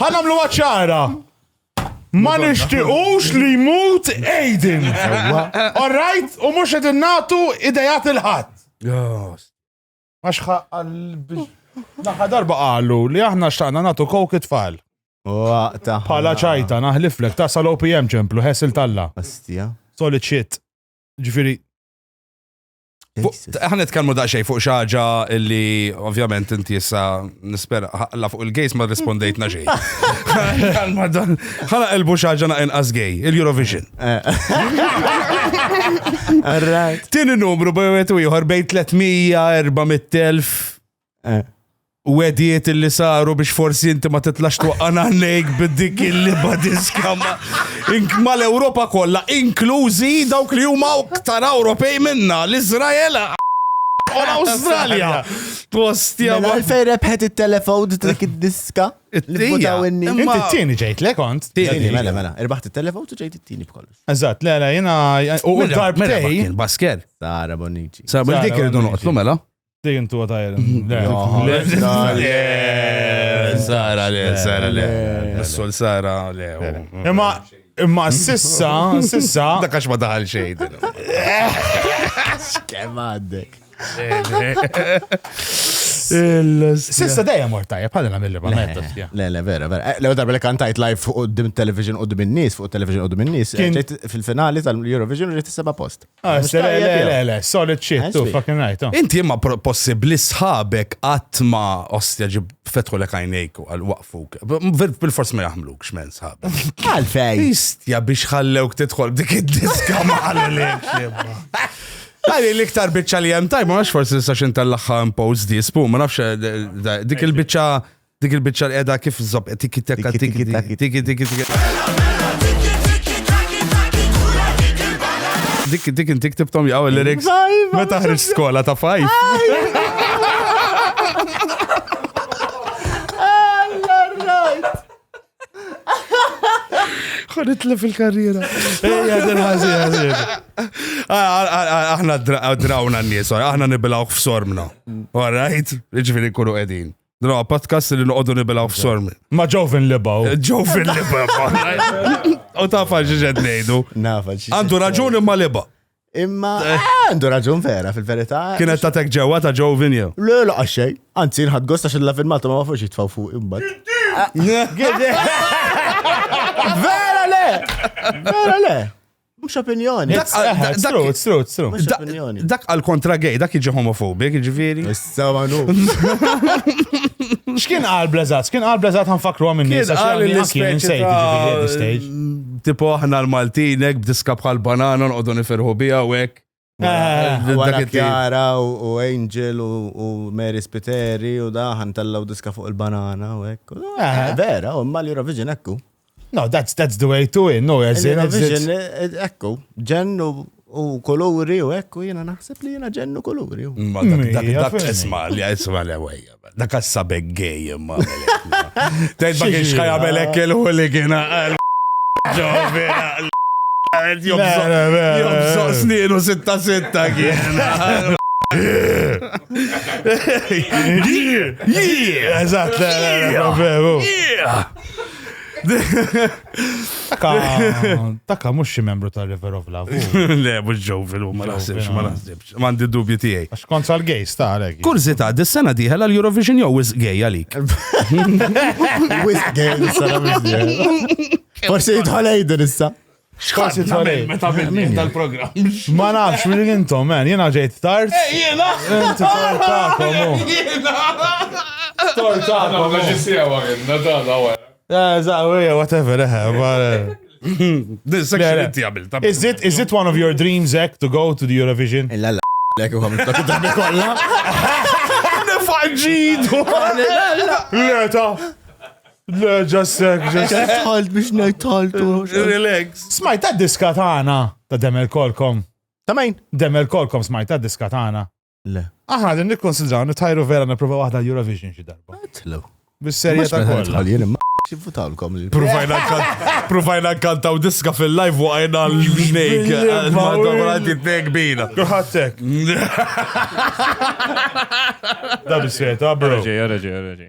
Ħanamlu ċara. Ma nishtiqux li jmut Aiden. All right? U mux edin natu idejat il-ħat. Maċħa għal Naħa darba għallu li aħna xtaqna natu kok it-tfal. Pala ċajta, naħliflek, ta' sal-OPM ċemplu, ħesil talla. Astija. Solid shit. Ġifiri, Ħan nitkellmu daqsxejn fuq xi ħaġa li ovvjament inti issa nispera ħalla fuq il-gays ma rispondejtna xejn. Ħana elbu xi ħaġa naqin as gay, il-Eurovision. Tieni numru bejwet u ieħor bejn 300, 400,000. Eh. U għediet li saru biex forsi inti ma titlax twaqqan għalejk bid-dik illi badiska ma l-Europa kollha, inklużi dawk li huma ktar Ewropej minna, l-Izrael u l-Awstralja. Postja. Mela għalfej rebħet il-telefon dik id-diska. Il-votaw inni. Inti t-tini ġejt, le kont? Tini, mela, mela. Irbaħt il-telefon u ġejt t-tini b'kollox. Eżat, le, le, jena. U darbtej. Baskel. Sara Bonici. Sara Bonici, dik irridu noqtlu, mela. Sejn tu għatajr. Sara le, sara le. Missol sara le. Imma, imma sissa, sissa. Dakax ma daħal xejn. Kemm għaddek. Sissa dejjem mort tajjeb, bħal nagħmel ma mettas. Le, le, vera, vera. Eh, Lew darba li kantajt live fuq qudiem television qudiem in-nies, fuq television qudiem in-nies, eh, fil-finali tal-Eurovision ġejt is-seba' post. Ah, Mhux se- le, tajjeb le, jew? le, le, solid shit, Ah, tu, sweet. fucking right, oh. Inti imma pro- possibli sħabek qatt ma ostja ġib fetħu lek għajnejk u għal waqfuk. Bil- Bil-fors ma jaħmluk xmen sħabek. Għalfej. Istja biex ħallewk tidħol b'dik id-diska ma għalilek jibba. Għalli l-iktar bicċa li jem tajb, ma nafx forsi nistax intallaxa impose dis, pu, ma nafx eh, da- dik il-bicċa Dik il-bicċa l-edha kif zob, tiki teka, tiki tiki tiki tiki tiki. Dik dik inti ktibtom jgħaw il-lyrics. Meta ħriġ skola ta' fajf. Ħonitla fil-karriera. Ejja, din ħażin, ħażin. Aħna drawna n-nies, aħna nibilawk f'sormna. All right? Ġifieri kunu qegħdin. Din huwa podcast li noqogħdu nibilgħu f'sormi. Ma ġew fin libaw. Ġew fin libaw. U ta' faġi ġed ngħidu. Nafa ġi. Għandu raġun imma liba. Imma eh, għandu raġun vera fil-verità. Kienet ta' tek ġewwa ta' ġew vinja. Le, la xejn. Anzi, nħad gost għax il-la filmata ma fuġi tfaw fuq imma. Vera le! Vera le! Mux opinjoni. It's a hat, it's true, it's true, it's true. Mhux Da- opinjoni. Dak għal kontra gay, dak jiġi homofobik, ġifiri. Issa manu. X'kien qal Blazat? X'kien qal Blazat ħanfakru għam minn Kien nisa għal x'għamli anki minn l-ispeċi sejt ġifieri at this stage. ta' tipo aħna l-Maltinek b'diska bħal banana nqogħdu nifirħu biha u hekk. Wara Kjara u Angel u Mary Spiteri u daħan tellaw diska fuq il-banana u ekku. Vera, u ma l-Eurovision ekku. No, that's, that's the way to it, no, as in... Eurovision ekku, ġennu u koluri u ekku jena naħseb li jena ġennu koluri. Dak jesma li jesma li għajja. Dak għas-sabek gej imma. Tgħid ma kienx ħajamelek il-ħuligina għal ġovina. Jobżoq snienu sitta sitta kien. Eżatt, Taka mux xi membru ta' River of Love. Le, mux ġovi l-huma naħsibx, ma naħsibx. M'għandi d-dubji tiegħi. Għax kont sal-gays ta' għalhekk. Kurżità, dis-sena dieħel għall-Eurovision jew wisq gay għalik? Wisq gay dis-sena mhux dieħel. Forsi jidħol Aiden issa. X'ħadd jitħolej? Meta bidni tal-programm. Ma nafx minn intom, man, jiena ġejt tard. Eh, jiena! Inti tortakom. Jiena! Tortakom. Ma ġisiewa jiena, da, da, Whatever, This section inti għamil. Is it, is it one of your dreams, Zek, to go to the Eurovision? Illa la, lek u għamil dak id-drabi kolla. Nifagġid! Leta! Le, ġassek, ġassek. Tħalt biex nejtħaltu. Relax. Smajt ta' diska ta' għana ta' demel kolkom. Ta' main? Demel kolkom smajt ta' diska ta' għana. Le. Aħna din nikkonsidraw nitajru vera nipprova waħda l-Eurovision xi darba. Tlu. Bis-serje ta' kollha. Xivvutawlkom li. Provajna kantaw diska fil-live waqajna l-nejk. Għaddi t-nejk bina. Għattek. Da bis-serje ta' bro. Reġi, reġi, reġi.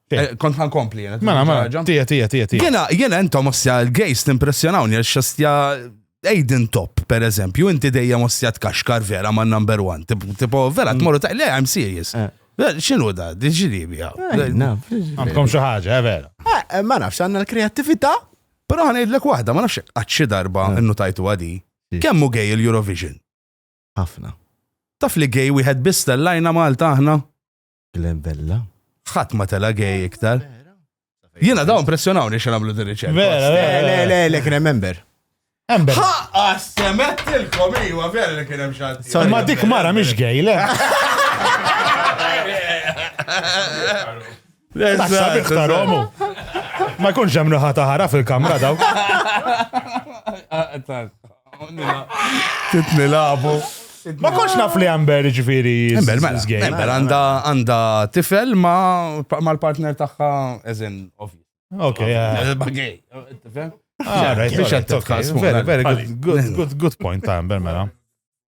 Eh, kont għan kompli jena. Mela, mela, tija, tija, tija, tija. Jena, jena entom ossja l-gejs t-impressjonawni għax xastja Aiden Top, per eżempju, inti dejja ossja t-kaxkar vera ma' number one. Tipo, vera, mm. t-morru ta' le, I'm serious. Eh. Xinu da, diġili bija. Eh, Għamkom xaħġa, vera. Ma nafx għanna l-kreativita. Pero għan id-lek wahda, ma nafx għadxi darba innu tajtu għadi. Kemmu gej il-Eurovision? Għafna. Taf li gej wieħed bista l-lajna Malta aħna? Glen Bella. Ħadd ma tela gej iktar. Jiena dawn pressjonawni xi nagħmlu din riċerka. Vera, vera. Le, le, le, kien hemm member. Ember. Ħaqqa semettilkom iwa vera li kien hemm xanti. Sorry. Ma dik mara mhix gej, le. Tassa biħtar omu. Ma jkunx hemm naħa taħara fil-kamra daw. Titni labu. Ma konx naf li Amber ġviri. Amber, mela, Amber għanda għanda tifel ma mal-partner taħħa eżin ovvi. Ok, bagay. Very, very good, good, good point, Amber, mela.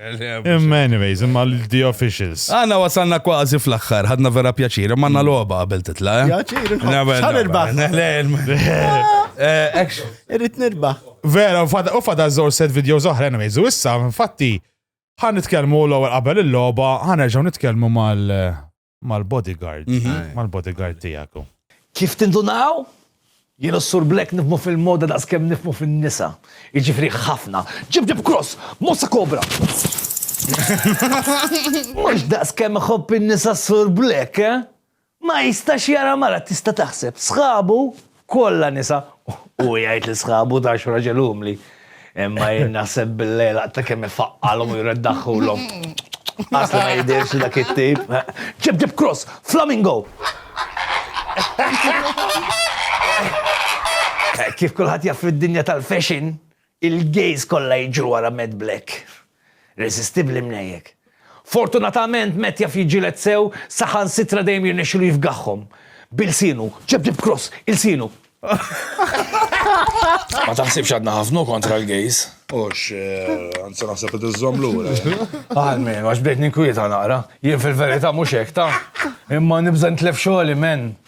Imma anyways, imma l-the officials. Għanna wasalna kważi fl-axħar, ħadna vera pjaċir, imma għanna loba għabel titla. Eh? Pjaċir, ħan irbaħ. Irrit nirbaħ. Vera, u fada zor set video zoħra, anyways, u issa, infatti, ħan nitkelmu l-ewwel qabel il-loba, ħan nerġgħu nitkellmu mal- mal-bodyguard, mal-bodyguard tiegħek hu. Kif tindunaw, jien u s-Sur Black nifhmu fil-moda daqs kemm nifhmu fin-nisa. Jiġifieri ħafna. Ġib ġib cross! Mossa kobra! Mhux daqs kemm iħobb in-nisa s-Sur Black, eh? Ma jistax jara mara tista' taħseb. Sħabu kollha nisa, u jgħid li sħabu ta' xi raġel umli. Imma jien naħseb bil-lejl ta' kemm ifaqqalhom u jreddaħħulhom. Asli ma jidhirx li dak it-tip. Ġib ġib cross, flamingo! Kif kulħadd jaf fid-dinja tal-fashion, Il-gays kollha jiġru wara Matt Black. Resistibbli mnejjek. Fortunatament Matt jaf jiġġieled sew saħansitra dejjem jirnexxilu jifgaħhom. B'ilsienu. Ġab ġab cross. Ilsienu. Ma taħsibx għadna ħafna u kontra l-gays? Hux, anzi naħseb qed iżżomm lura. Almenu għax bdejt ninkwieta naqra. Jien fil-verità mhux hekk taf. Imma nibża' nitlef xogħli, men.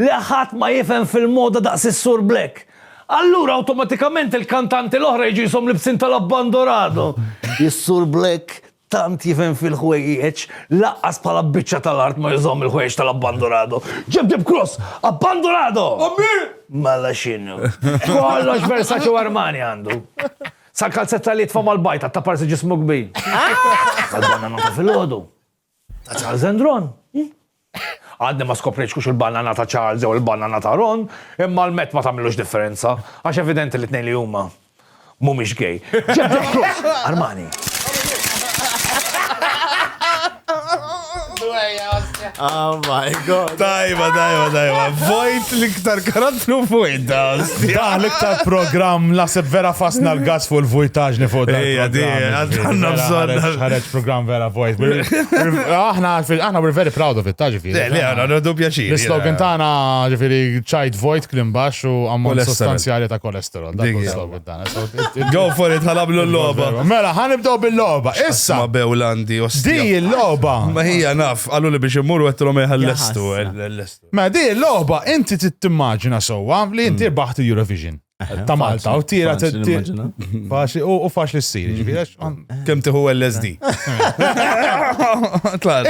Le ħadd ma jifhem fil-moda daqs is-Sur Black. Allura awtomatikament il-kantanti l-oħra jiġu jishom libsin tal-Abban Dorado. Is-Sur Black tant jifhem fil-ħwejjeġ, laqqas bħala biċċa tal-art ma jużahom il-ħwejjeġ tal-Abban Dorado. Ġib dip cross! Abban Dorado! Mela x'inhu? Kollox Versace u Armani għandu. Sal-kalzetta li jitfa' mal-bajta, t-taparsi ġismu kbir. Għall-banana ta' filgħodu. Ta' Charles and Ron. Għadni ma skoprejx kux il-banana ta' Charles jew il-banana ta' Ron, imma l-met ma tagħmilux differenza, għax evidenti li tnejn li huma mhumiex gay. Ġebda Cruz, Armani. Oh my god. Tajba, tajba, tajba. Vojt l-iktar karattru vojt da. Da l-iktar program la se vera fasna l-gas fuq il-vojtaġni fuq da. Ija, di, għanna bżonna. Ħareċ program vera Voice. We're- we're- Aħna, aħna we're very proud of it, ta' Le, ġifiri. le, għana, għadu pjaċir. L-slogan tagħna ġifiri ċajt vojt klim baxx u ammont Kolesterol. sostanzjali ta' kolesterol. Dak Dik hu hija. l-slogan tagħna. So, it- it- Go for it, ħalablu l-loba. Mela, ħanibdew bil-logħba. Ma Issa, bewlandi, di ostja. l-logħba. Ma hija naf, għallu li biex immur u għettilom eħal-lestu. Jaħasra. L-lestu. Ma di l-logħba inti tittimmaġina sewwa li inti rbaħt il-Eurovision. ta' Malta u tira faċli u faċli s-sir, ġifiri, kem tiħu LSD.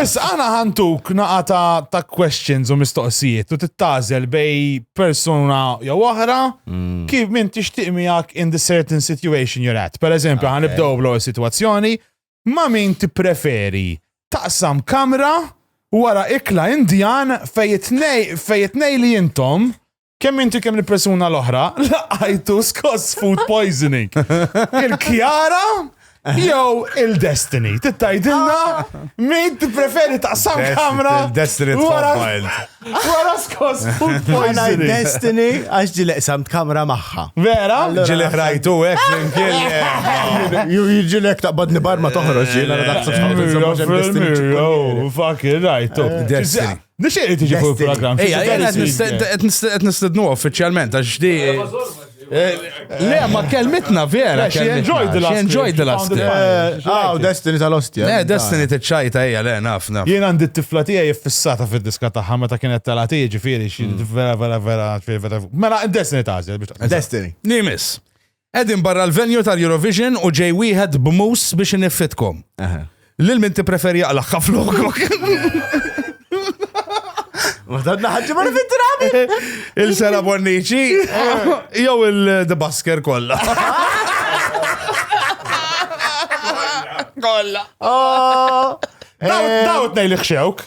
Issa għana ħantuk naqa ta' questions u mistoqsijiet u tittazel bej persona jew oħra mm. kif minn tixtieq miegħek in the certain situation you're at. Per eżempju, għan ibdew bl situazzjoni ma' min tippreferi taqsam kamra wara ikla indjan fejt nej li jintom Kemm inti kemm il-persuna l-oħra laqajtu skoss food poisoning. Il-Kjara jew il-Destiny. Tittajdilna min tippreferi taqsam kamra. Il-Destiny tkompajl. Wara skoss food poisoning. Destiny għax ġi leqsamt kamra magħha. Vera? Ġili ħrajtu hekk minn kien. Ju jiġilek taqbadni barma toħroġ jiena daqsam. Fucking rajtu. Destiny. Nixtieq li tiġi fuq il-programm. Ejja, jena qed nistednu uffiċjalment għax di. Eh, le, ma kelmitna vera. She enjoyed the last. She enjoyed the last. Ah, Destiny tal-ostja. Le, Destiny t-ċajta hija le nafna. Jien għandi t-tifla tiegħi jiffissata fid-diska tagħha meta kienet talati ġifieri xi mm. vera vera vera vera. Mela Destiny tażel. Destiny. Nimis. Qegħdin barra l-venue tal-Eurovision u ġej wieħed b'mus biex iniffitkom. Lil min tippreferi jaqlaqha flokok. Waħdadna ħagġi ma nifit drabi. Il-sera bonniċi, jew il-The Basker kolla. Kolla. Dawt nej li xewk.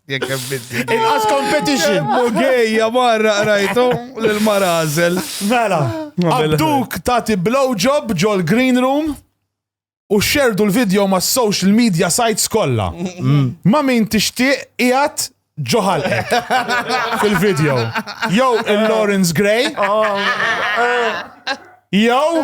Jekk hemm binti. Inqas competition. Mu gejja marra qrajtu lil marażel. Mela, għabduk tagħti blowjob ġol green room u xerdu l-video ma' social media sites kollha. Ma' min tixtieq qiegħed ġoħal fil-video. Jew il-Lawrence Gray. Jew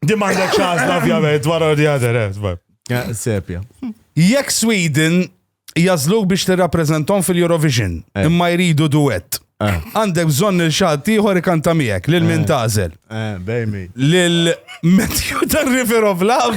Di m'għandek x'għażla ovvjament wara di għadher, eh, eh, Sepja. Jekk Sweden jażluk biex tirrappreżentom fil-Eurovision, eh. imma jridu duet. Għandek bżonn il xatt ieħor ikanta miegħek lil min tażel. Bejmi. Lil Matthew the River of Love.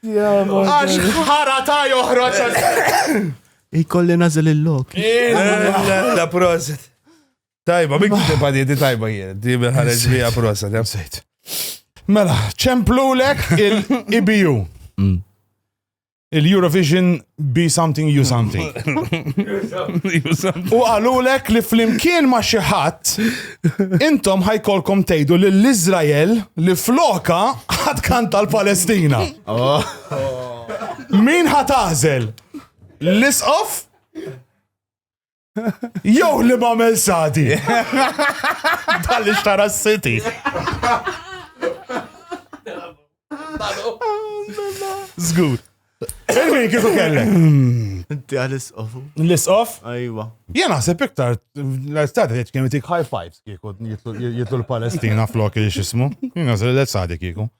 Għax ħara ta' joħroġ. Ikolli nażel il-lok. La proset. Tajba, minn kif tibqa' di tajba jien, di ħareġ li proset, jam sejt. Mela, ċemplulek il-IBU. Mm. Il-Eurovision be something you something. U għalulek li flimkien ma xi ħadd intom ħajkolkom tgħidu lill iżrael li floka ħadd kanta l-Palestina. Oh. Min ħatażel? L-isqof? Jew li ma għamel sadi. Tal xtara s-siti. Zgur. Il-min kifu kellek? Inti għal isqofu. L-isqof? Ajwa. Jien naħseb iktar, l-estate jieċ kemm jtik high fives kieku jitlu l-Palestina flok il-xismu. Jien naħseb l-estate kieku.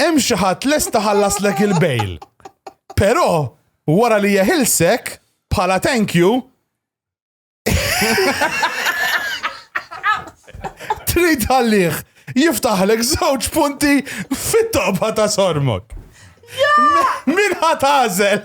hemm xi ħadd lest iħallaslek il-bail. Però wara li jeħilsek bħala thank you trid għalih jiftaħlek żewġ punti fit-toqba ta' sormok. Min ħatażel?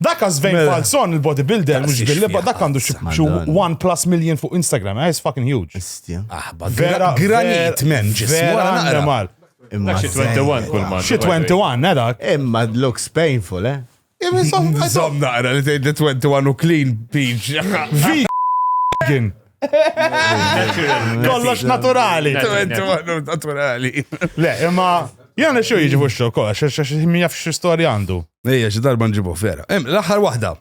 Dak Sven Mela. Falzon, il-bodybuilder, mux Daqsiex billi, ba dak fjaħat, għandu xi xi Madonna. 1 plus million fuq Instagram, eh, it's fucking huge. Istja. Aħba, Vera, granit, men, ġismu, Vera għara naqra. animal. Imma Xi 21 kull ma. Xi 21, eh, dak. Imma it looks painful, eh? Zom naqra li tgħid li 21 u clean peach. Vegan. Kollox naturali. Naturali. Le, imma jgħana xo jiġi fuxxu kolla, ximmi jaf xie storja għandu. Ejja, xie darba nġibu vera. L-axar wahda,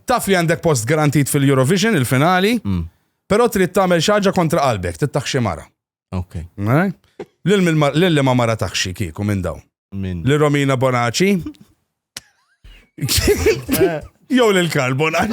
taf li għandek post garantit fil-Eurovision, il-finali, mm. pero trid tagħmel xaġa kontra qalbek, tittaxxi mara. Ok. Eh? Lilli ma mara taħxi kieku minn daw. Minn. Li Romina Bonaci. Eh. Jow lil Karl Bonaci.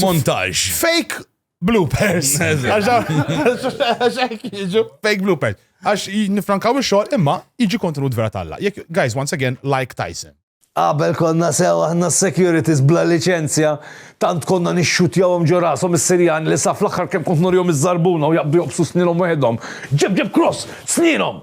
Montaġ. Fake bloopers. Għax jiġu fake bloopers. Għax nifrankaw il-xol imma jiġi kontenut vera talla. Jek, guys, once again, like Tyson. Qabel konna sew aħna securities bla licenzja, tant konna nixxutjawhom ġo rashom is-Sirjani li saf l-aħħar kemm kont norjom iż-żarbuna u jaqbdu jobsu snilhom weħedhom. Ġeb ġeb cross, snilhom!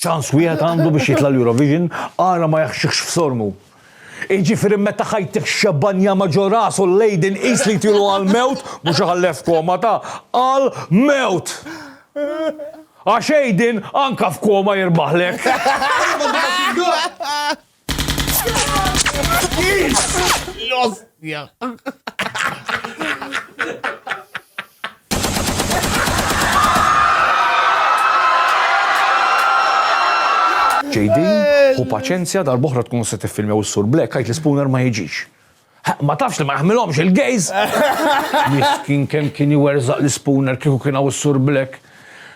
Ċans wieħed għandu biex jitla' l-Eurovision, ara ma jaħxikx f'sormu. Iġifieri meta ħajtih xebba njama ġo rasu l-lady nqis li jtilu għall-mewt, mhux iħalleh f'koma ta' għal mewt! Għax Aiden anka f'koma jirbaħlek! L-ostja. JD, u paċenzja darboħra tkun se tiffilmjaw is-sur Black, għajt l-spooner ma jiġix. Ma tafx li ma jaħmilhomx il-gays. Miskin kemm kien iwerżaq l-ispooner kieku kien hawn is-Sur Black.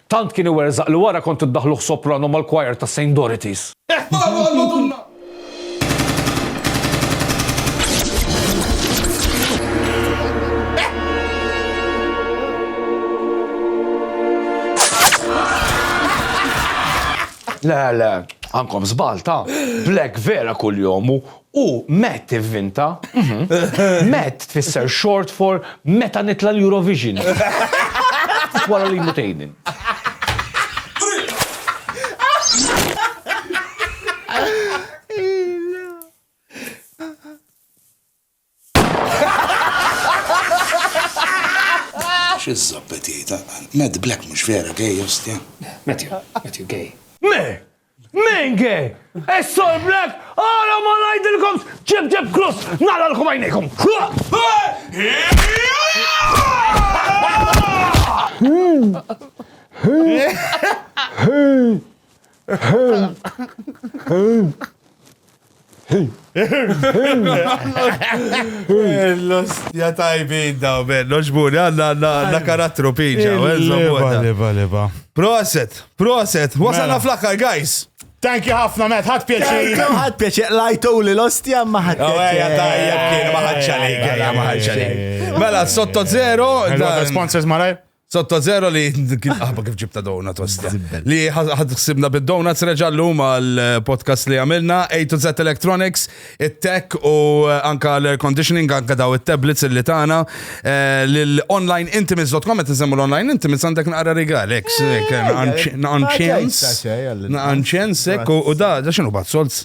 Tant kien iwerżaq li wara kont iddaħħluh soprano mal-choir ta' Saint Dorothys. Eħbaru għal Madonna! Le, le, għandkom żball ta'. Black vera kuljom hu U met ivvinta. Met tfisser short for meta nitla' l-Eurovision. Wara li jmut Aiden. Xi żżoppet jgħid, Matt Black mhux vera gay ostja? Matthew, Matthew gay. Me! Menge! Is-Sol Black għala ma ngħidilkomx ġib ġib krus nagħlalkom għajnejkom! L-ostja tajbin daw, ben, noġbuni, għanna għanna karattru piġa. Proset, proset, wasalna mela. fl-akkar, guys. Thank you ħafna, Matt, ħad pjaċir. ħad pjaċir, lajtu li l-ostja ma ħad oh, pjaċir. Tajjeb kien, ma ħad ċalik, ma ħad ċalik. Mela, sotto zero. Sponsors malaj? Sotta zero li kien aħba kif ġibta dona tosta. Li ħad xsibna bid-dona t-reġa l-lum għal-podcast li għamilna, A to Z Electronics, it-tech u eh, anka l-air conditioning, anka daw il-tablets li tana, eh, l-online intimates.com, għet nsemmu l-online intimates għandek naqra rigal, ek, eh, naqanċens, naqanċensek u da, da xinu bat solz?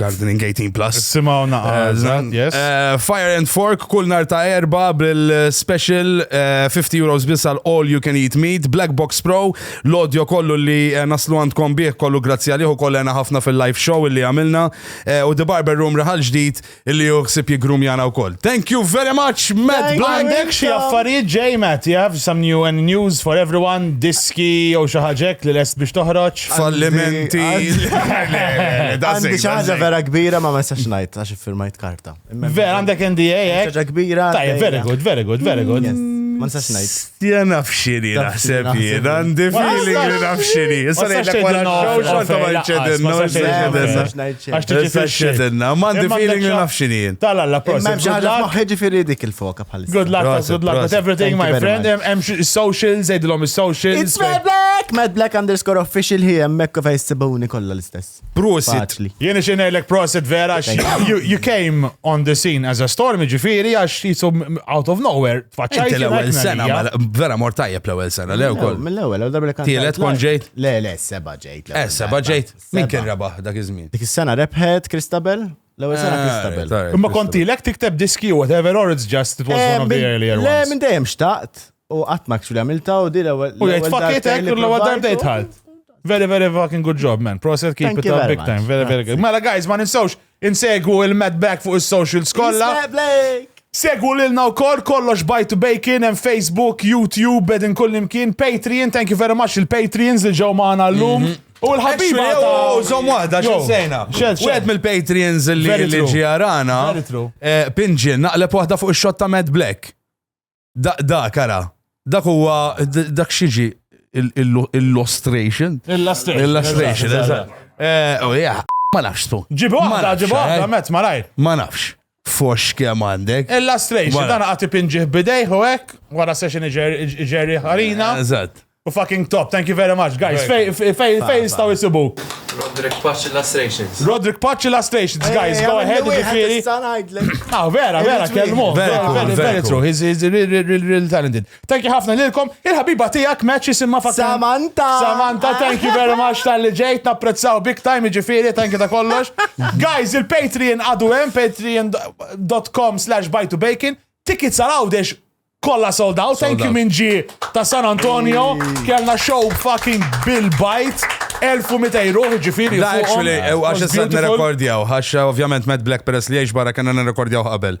Gardening 18 Plus. Simaw naqazan, eh, yes. Eh, Fire and Fork, kull nar ta' erba bil-special 50 eh, euros biss għal All You Can Eat Meat, Black Box Pro, l-audio kollu li naslu għandkom bieħ kollu grazzi għalih u kollu għana ħafna fil-live show li għamilna u The Barber Room raħal ġdid li juħsib jigrum jana u koll. Thank you very much, Matt Blank. Għandek xie affarijiet ġej, Matt, you have some new and news for everyone, diski u xaħġek li lest biex toħroċ. fallimenti. Għandi ċaġa vera kbira ma ma jistax najt għax firmajt karta. Vera għandek NDA, eh? ċaġa kbira. Tajja, very good, very good, very good. Ma nistax najt. Jena nafxini naħseb jien, għandi fili li nafxini. Issa nejt l-kwara xow xorta ma nċedinna. Għax t-ċedinna, ma għandi fili li nafxini jien. Tala, la prosim. Ma ċaġa maħħeġi fili dik il-foka. Good luck, Prosit, good luck with prosit. everything, Thank you my very friend. much. Hemm xi- socials, zejdilhom is-socials. It's Mad Black! Mad Black underscore official hi hemmhekk u fejn sibuni kollha l-istess. Prosit. Faċli. Jien ixin ngħidlek prosit vera għax you, you came on the scene as a storm ġifieri għax jisu out of nowhere tfaċċajt. Inti l-ewwel jiena sena, kmina mela, vera mor tajjeb l-ewwel sena, le wkoll. Mill-ewwel, għal darba li kant. Tielet kon ġejt? Le, le, seba ġejt. l-ewwel Eh, seba darba. ġejt. Min Seba. kien rebaħ dak iż-żmien? Dik is-sena rebħet Kristabel, L-ewwel sena Christabel. Ah, Imma kontilek tikteb diski u whatever or it's just it was one of the earlier ones. Le, minn dejjem xtaqt u qatt ma kxu għamilta u di l-ewwel. U jgħid fakkietek l-ewwel darba jtħalt. Very, very fucking good job, man. Proset keep Thank it up big much. time. Very, very good. Mela, guys, ma ninsawx insegwu il-Mad Back fuq il-social skolla. Segwu lilna u kol, kollox bajtu bacon, and Facebook, YouTube, bedin kullimkien, Patreon, thank you very much il-Patreons li ġew maħna l-lum. Mhm. U l-ħabiba ta' zom wahda, xezzejna. Wieħed mill-Patreons li li ġijarana. Eh, Pinġin, naqleb wahda fuq il-shot ta' Mad Black. Da, da, kara. Dak huwa, dak xieġi, illustration. Illustration. Illustration, eżatt. Eh, oh, ma nafx tu. Ġibu wahda, ġibu wahda, met, ma rajt. Ma nafx. Foxx kemm għandek. Illustration, dan għati pinġiħ bidejħ u hekk, wara session iġerri ħarina. Eżatt. U fucking top, thank you very much, guys. Fej, fej, fej jistaw jisibuk. Roderick Patch Illustrations. Roderick Patch Illustrations, guys, go ahead, ġifiri. Ah, vera, vera, kelmu. Very, very true. He's, he's really, really, really talented. Thank you ħafna lilkom. Il-ħabiba tiegħek match jisimha fatt. Samantha! Samantha, thank you very much tal-li ġejt, napprezzaw big time, iġifiri, thank you ta' kollox. Guys, il-Patreon għadu hemm, patreon.com slash buy to bacon. Tickets għal għawdex kolla sold out. Thank you minn ġi ta' San Antonio. Kellna show fucking Bill Bite. 1200 euro, ġifiri. Da, actually, għax s-sant nerekordjaw. Għax, ovvjament, Mad Black Press li jiex barra kena nerekordjaw qabel.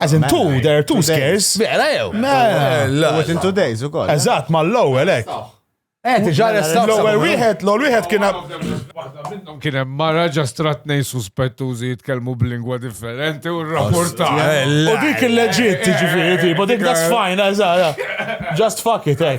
As in two, there are two scares. Mela jew. Mela. Within two days u koll. Eżatt, ma l-ewwel hekk. Eh, tiġa restaw. L-ewwel wieħed, l-ewwel wieħed kien minnhom kien hemm mara ġastra tnej suspettużi jitkellmu b'lingwa differenti u rrapporta. U dik il-leġit, ġifieri, tipo dik that's fine, eżatt. Just fuck it, eh.